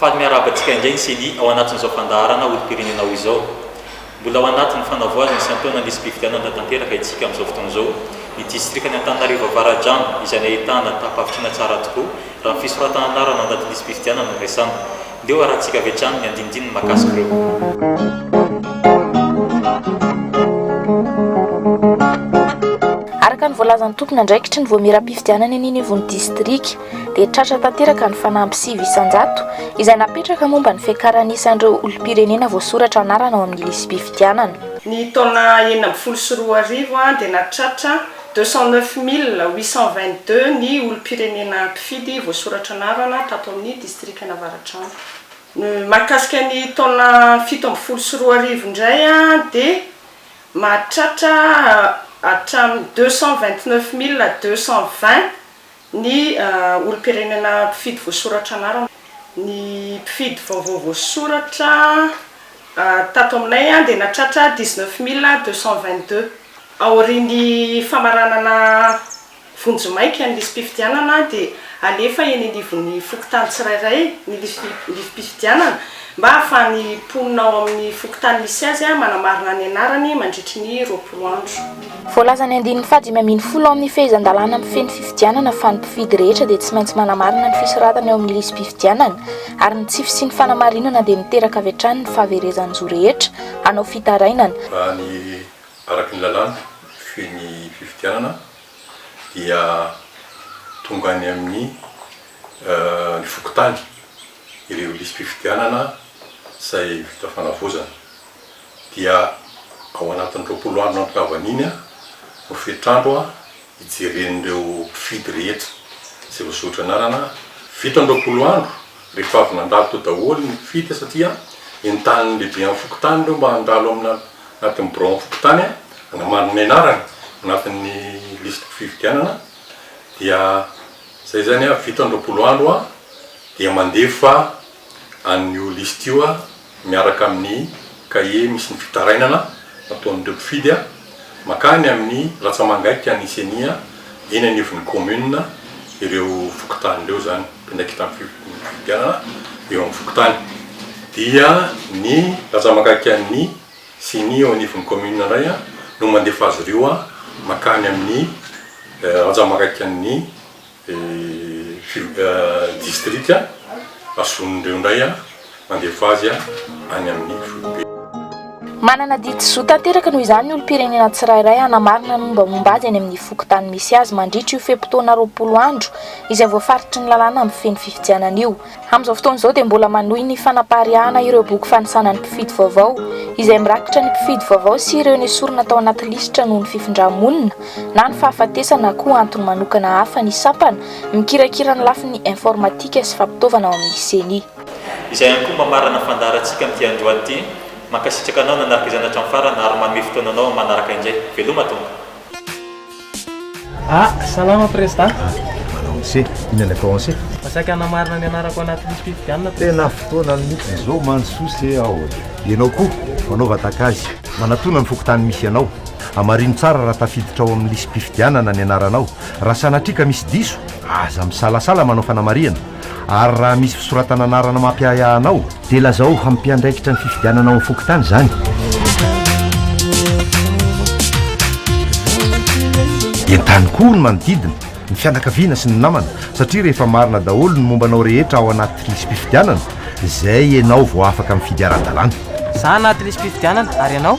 Faly miarahaba antsika indray ny Ceni ao anatin'izao fandaharana olom-pirenena ao izao. Mbola ao anatin'ny fanavoazana sy antohana ny lisi-pifidianana tanteraka isika amin'izao fotoana izao. Ny distrikan'i Antananarivo Avaradrano izay nahitana tampavitsona tsara tokoa raha ny fisoratana anarana ao anatin'ny lisi-pifidianana no resahana. Ndeo harahantsika avy hatrany ny andinindininy mahakasika ireo. Araka ny voalazan'ny tompon'andraikitry ny voamieram-pifidianana eny anivon'ny distrika, dia tratra tanteraka ny fanamby sivy isan-jato izay napetraka momba ny fiakaran'ny isan'ireo olom-pirenena voasoratra anarana ao amin'ny lisi-pifidianana. Ny taona enina ambin'ny folo sy roa arivo dia nahatratra deux cent neuf mille huit cent vingt-deux ny olom-pirenena mpifidy voasoratra anarana tato amin'ny distrikan'Avaradrano. Ny mahakasika ny taona fito ambin'ny folo sy roa arivo indray dia mahatratra hatramin'ny deux cent vingt-neuf mille deux cent vingt, Ny olom-pirenena mpifidy voasoratra anarana. Ny mpifidy vaovao voasoratra tato aminay dia nahatratra dix neuf mille deux cent vingt deux. Aorian'ny famaranana vonjimaika ny lisi-pifidianana dia alefa eny anivon'ny fokontany tsirairay ny lisi-pifidianana mba ahafahan'ny mponina ao amin'ny fokontany misy azy manamarina ny anarany mandritry ny roapolo andro. Voalaza ny andininy faha dimy ambin'ny folo ao amin'ny fehezan-dalàna mifehy ny fifidianana fa ny mpifidy rehetra dia tsy maintsy manamarina ny fisoratana eo amin'ny lisi-pifidianana ary ny tsy fisian'ny fanamarinana dia miteraka avy hatrany ny fahaverezan-jo rehetra hanao fitarainana Raha ny araka ny lalàna mifehy ny fifidianana dia tonga any amin'ny ny fokontany ireo lisi-pifidianana izay vita fanavaozana Dia ao anatin'ny roapolo andro nanokavany iny no fetrandro hijeren'ireo mpifidy rehetra izay voasoratra anarana. Vita ny roapolo andro rehefa avy nandalo teo daholo ny mpifidy satria entanin'ny lehiben'ny fokontany ireo mba handalo ao anatin'ny biraon'ny fokontany hanamarina ny anarany ao anatin'ny lisitim-pifidianana. Dia izay izany, vita ny roapolo andro dia mandefa an'io lisitra io. miaraka amin'ny kahie misy ny fitarainana nataon'ireo mpifidy mankany amin'ny ratsamangaika ny ceni eny anivon'ny kaominina ireo fokontany ireo izany pindrakitan'ny fifidianana eo amin'ny fokontany dia ny ratsamangaikan'ny ceni eo anivon'ny kaominina indray no mandefa azy ireo mankany amin'ny ratsamangaikan'ny Filoha distrika azon'ireo indray mandefa azy any amin'ny foibe. Manana didy zo tanteraka noho izany ny olom-pirenena tsirairay hanamarina ny mombamomba azy any amin'ny fokontany misy azy mandritra io fe-potoana roapolo andro izay voafaritry ny lalàna mifehy ny fifidianana io. Amin'izao fotoana izao dia mbola manohy ny fanapariahana ireo boky fanisana ny mpifidy vaovao, izay mirakitra ny mpifidy vaovao sy ireo nesorina tao anaty lisitra noho ny fifindrà-monina na ny fahafatesana na koa antony manokana hafa ny sampana mikirakira ny lafiny informatika sy fampitaovana ao amin'ny Ceni. Izay ihany koa mamarana fandaharantsika amin'ity andro andro ity. Mankasitraka anao nanaraka izany hatramin'ny farany ary manome fotoananao amin'ny manaraka indray. Veloma tompoko. Ah, salama Prezda. Ah, manao mse, inona ilay tao anse? Mba saika hanamarina ny anarako anaty lisi-pifidianana. Tena fotoana mihitsy izao mansoa se aho. Ianao koa, manao vatakazy. Manatona ny fokontany misy anao. Hamarino tsara raha tafiditra ao amin'ny lisi-pifidianana ny anaranao. Raha sanatria ka misy diso, aza misalasala manao fanamarihana. Ary raha misy fisoratana anarana mampiahiahy anao, dia lazao ho mpiandraikitra ny fifidianana ao amin'ny fokontany izany. Entano koa ny manodidina, ny fianakaviana sy ny namana, satria rehefa marina daholo ny momba anao rehetra ao anaty lisi-pifidianana, izay ianao vao afaka mifidy ara-dalàna. Za anaty lisi-pifidianana, ary ianao?